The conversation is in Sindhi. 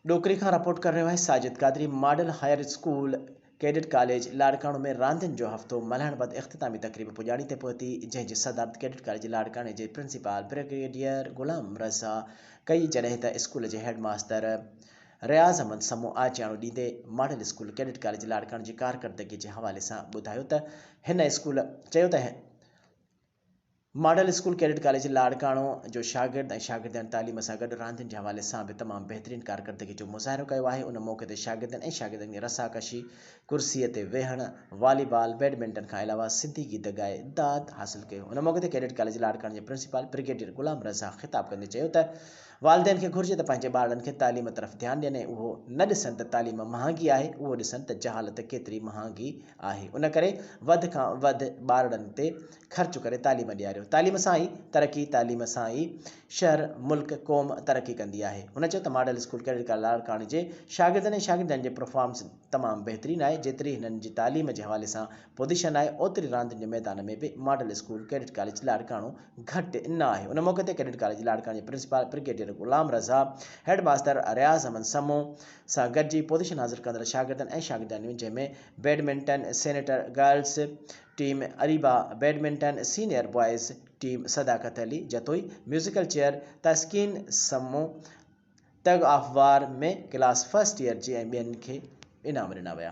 ڏوڪري کان رپورٽ ڪري رهيو آهي Sajid Qadri model higher school cadet college Larkana ۾ راندين جو هفتو ملهائڻ بعد اختتامي تقريب پڄاڻي تي پهتي جنهن جي صدارت ڪيڊٽ ڪاليج لاڙڪاڻي جي پرنسپال برگيڊيئر غلام رضا ڪئي جڏهن ته اسڪول جي هيڊ ماستر رياض احمد سمون آجياڻو ڏيندي model school cadet college Larkana جي ڪارڪردگي جي حوالي سان ٻڌايو ته هن اسڪول چيو ته model school cadet college Larkana جو شاگرد ۽ شاگردياڻين تعليم سان گڏ راندين جي حوالي سان به تمام بهترين ڪارڪردگي جو مظاهرو ڪيو آهي ان موقعي تي شاگردين ۽ شاگردياڻين کي رسا ڪشي، ڪرسي تي ويهڻ، والي بال، بيڊمنٽن کان علاوه سنڌي گيت ڳائي داد حاصل ڪيو ان موقعي تي ڪيڊٽ ڪاليج لاڙڪاڻو جي پرنسپال برگيڊيئر غلام رضا خطاب ڪندي چيو ته والدين کي گهرجي ته پنهنجي ٻارڙن کي تعليم طرف ڌيان ڏين ۽ اهو نه ڏسن ته تعليم مهانگي آهي، اهو ڏسن ته جهالت ڪيتري مهانگي آهي. ان ڪري وڌ کان وڌ ٻارڙن تي خرچ ڪري تعليم ڏياريو. تعليم سان ئي ترقي، تعليم سان ئي شهر، ملڪ، قوم ترقي ڪندي آهي. هن چيو ته ماڊل اسڪول ڪريڊٽ ڪار لاڙڪاڻي جي شاگردن ۽ شاگردياڻين جي پرفارمنس تمام بهترين آهي، جيتري هنن جي تعليم جي حوالي سان پوزيشن آهي اوتري راندين جي ميدان ۾ به model school cadet college Larkana گهٽ نه آهي ان موقعي تي ڪيڊٽ ڪاليج لاڙڪاڻو جي principal brigadier Ghulam Raza headmaster Riaz Ahmed Samoon سان گڏجي پوزيشن حاصل ڪندڙ شاگردن ۽ شاگردياڻيون جنهن ۾ badminton senior girls team Areeba badminton senior boys team Sadaqat Ali Jatoi musical chair Taskeen Samoon tug of war ۾ class first year جي ۽ ٻين کي انعام ڏنا ويا.